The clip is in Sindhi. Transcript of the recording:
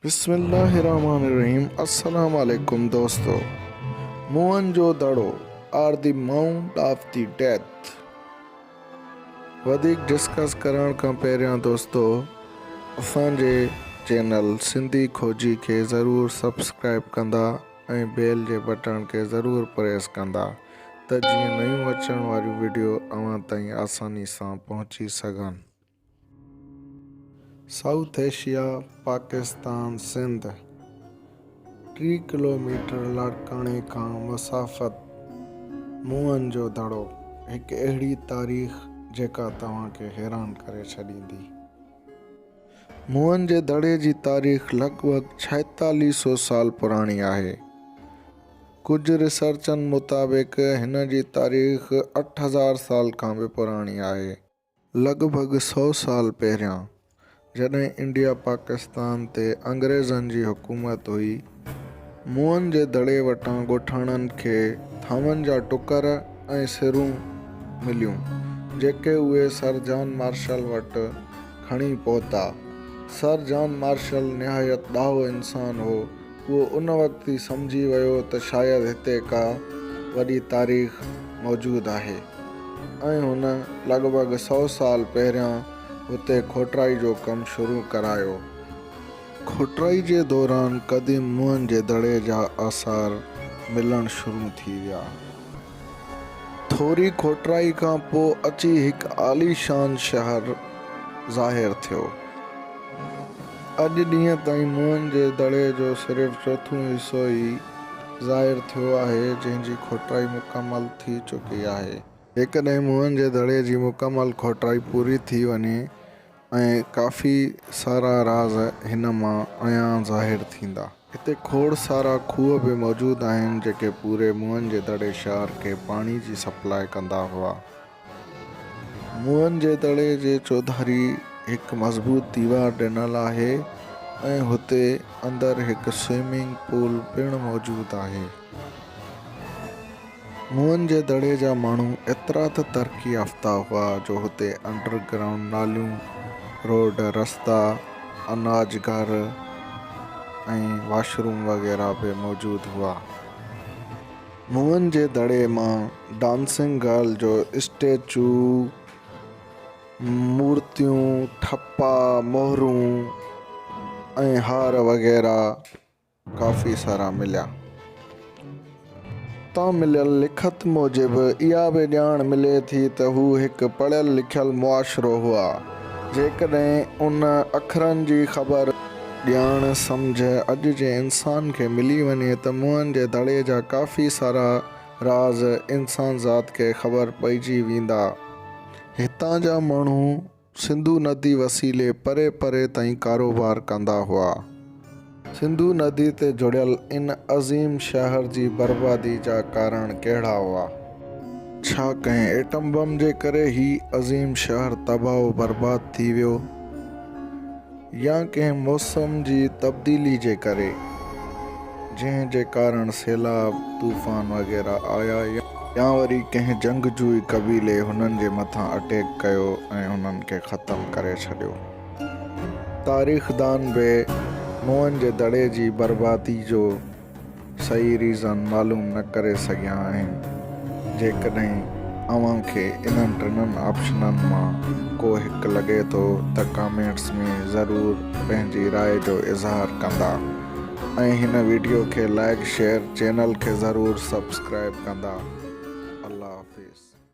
بسم الله الرحمٰن الرحيم السلام عليڪم دوستو Mohenjodaro are the mount of the death discuss ڊسڪس ڪرڻ کان پهريان دوستو اسان جي چينل سنڌي کوجي کي ضرور سبسڪرائب ڪندا ۽ بيل جي بٽڻ کي ضرور پريس ڪندا ته جيئن نيون اچڻ واريون وڊيو اوهان تائين آساني سان پهچي سگهن سائوٿ ايشيا، پاڪستان، سنڌ ٽي ڪلوميٽر لاڙڪاڻي کان مسافت موئن جو دڙو هڪ اهڙي تاريخ جيڪا توهان کي حيران ڪري ڇڏيندي. موئن جي دڙي جي تاريخ لڳ ڀڳ ڇائيتاليهه سئو سال پراڻي آهي. ڪجهه ريسرچن مطابق هن جي تاريخ اٺ هزار سال کان به پراڻي آهي. لڳ ڀڳ سؤ سال پهريان جڏهن انڊيا پاڪستان تي انگريزن جي حڪومت هئي، موئن جي دڙي وٽان ڳوٺاڻن کي ٿانون جا ٽڪر ۽ سرون مليون، جيڪي اهي سر جان مارشل وٽ کڻي پهتا. سر جان مارشل نهايت ڏاهو انسان هو، هو ان وقت ئي سمجهي ويو ته شايد هتي ڪا وڏي تاريخ موجود آهي ۽ هن لڳ ڀڳ سؤ سال پهريان هتي کوٽرائي جو ڪم شروع ڪرايو. کوٽرائي جي دوران قديم موهن جي دڙي جا آثار ملڻ شروع ٿي ويا. ٿوري کوٽرائي کان پوء اچي هڪ عاليشان شهر ظاهر ٿيو. اڄ ڏينهن تائين موئن جي دڙي جو صرف چوٿون حصو ئي ظاهر ٿيو آهي، جنهن جي کوٽرائي مڪمل ٿي چڪي آهي. جيڪڏهن موئن جي دڙي جي مڪمل کوٽرائي پوري ٿي وڃي ۽ ڪافي سارا راز هن مان عيان ظاهر ٿيندا. هتي کوڙ سارا کوهه به موجود آهن جيڪي پوري موهن جي دڙي شهر کي پاڻي جي سپلاء ڪندا هئا. موهن جي دڙي جي چوڌاري هڪ مضبوط ديوار ڏنل آهي ۽ هتي اندر هڪ سوئمنگ پول پڻ موجود آهي. موئن جي دڙي جا ماڻهو ايترا ته ترقي يافته هئا جو هتي انڊر گرائونڊ ناليون، روڊ، رستا، اناج گهر ۽ واش روم وغيره به موجود هئا. موئن جي دڙي مان ڊانسنگ گرل جو اسٽيچو، مورتيون، ٺپا، مهرون ۽ هار وغيره ڪافي سارا مليا. تان مليل لکت موجب اها به ڄاڻ ملي ٿي ته هو هڪ پڙهيل لکيل معاشرو هئا. جيڪڏهن ان اکرن جي خبر، ڄاڻ، سمجهه اڄ جي انسان کي ملي وڃي ته موهن جي دڙي جا ڪافي سارا راز انسانذات کي خبر پئجي ويندا. هتان جا ماڻهو سنڌو ندي وسيلي پري پري تائين ڪاروبار ڪندا هئا. سنڌو ندي تي جڙيل ان عظيم شهر جي بربادي جا ڪارڻ ڪهڙا هئا؟ ڇا ڪنهن ايٽم بم جي ڪري هي عظيم شهر تباهه و برباد ٿي ويو؟ يا ڪنهن موسم جي تبديلي جي ڪري جنهن جي ڪارڻ سيلاب، طوفان وغيره آيا يا وري ڪنهن جنگجوئي قبيلي هنن جي مٿان اٽيڪ ڪيو ۽ هنن کي ختم ڪري ڇڏيو. تاريخدان به نوحن جي دڙي جي بربادي جو صحيح ريزان معلوم نه ڪري سگهيا آهن جيڪڏهن اوهان کي انهن ٽنن آپشنن مان ڪو هڪ لڳي ٿو ته ڪامينٽس ۾ ضرور پنهنجي راء جو اظهار ڪندا ۽ هن ويڊيو کي لائيڪ شيئر چينل کي ضرور سبسڪرائيب ڪندا الله حافظ.